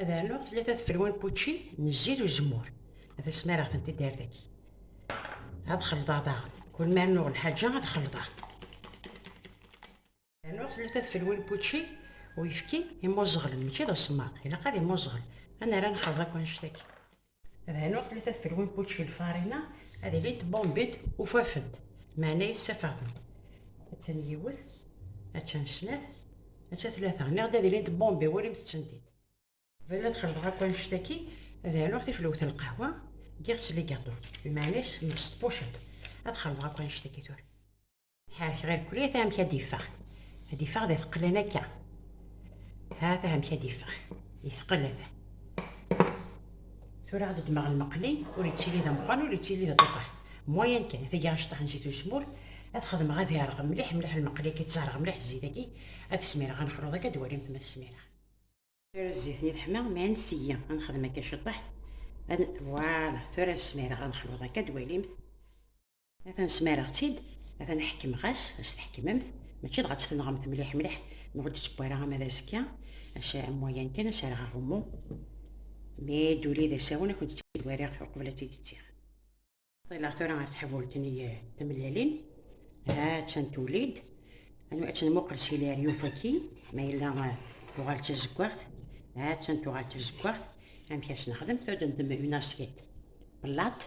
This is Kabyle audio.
ad rnuɣ tlata tfelwa n wučči n zzit uzemmur ad asmareɣ tent-id ar daki ad xelḍeɣ daɣen kul ma rnuɣ lḥaǧa ad xelḍeɣ rnuɣ tlata tfelwa n wučči uyefki imuẓɣel mačči d asemmaḍ ilaq ad imuẓɣel ad nerra nxelḍ akk annect-agi Rhan ur tlata tfelwin kučči lfarina ad ilint bombit ufafent meɛna yessafafent attan yiwet attan snat attan tlata niɣ d ad ilint bombi walimt tsentit bala ad xelḍeɣ akk annect-agi ad rnuɣ tiflwt n lqahwa giɣ-tt ligaṭu lmeɛna-s s tbuciḍt ad xelḍeɣ akk annect-agi tura ḥerrek ɣer kulya ta amek ad d-iffeɣ ad d-iffeɣ d ateqqlan akka ha ta amek ad d-iffeɣ yetqel ata tura ad ddmeɣ lmeqli ur yettili d ameqqran ur yettili d aṭuṭar moyen kan tagi aceṭṭaḥ n zit uzemmur ad xedmeɣ ad ireɣ mliḥ mliḥ lmeqli akka ttereɣ mliḥ zzit aki ad smireɣ ad nexluḍ akka ad walimt ma smireɣ tura zzit ni teḥma mi ad nseyyi ad nexdem akka ceṭṭaḥ ad voilà tura ad smireɣ ad nexluḍ akka ad walimt Atan smareɣ-tt-id, atan ḥekmeɣ-as, as tḥekmemt, mačči dɣa tt-tenɣemt mliḥ mliḥ, neɣ ur d-ttewwara ama d azekka, as am wayan kan, as rɣ aɣummu, mi d-uli d asawen, ad kent-tt-id-wariɣ uqbel ad tt-id-ttiɣ. Ṭileɣ tura ɣer tḥbult n temlalin, ha attan tuli-d, ad tenmuqel s ilir yufaki, ma yella tuɣal d tazeggaɣt, ha attan tuɣal d tazeggaɣt, amek as nexdem, tudem une assiette, plate,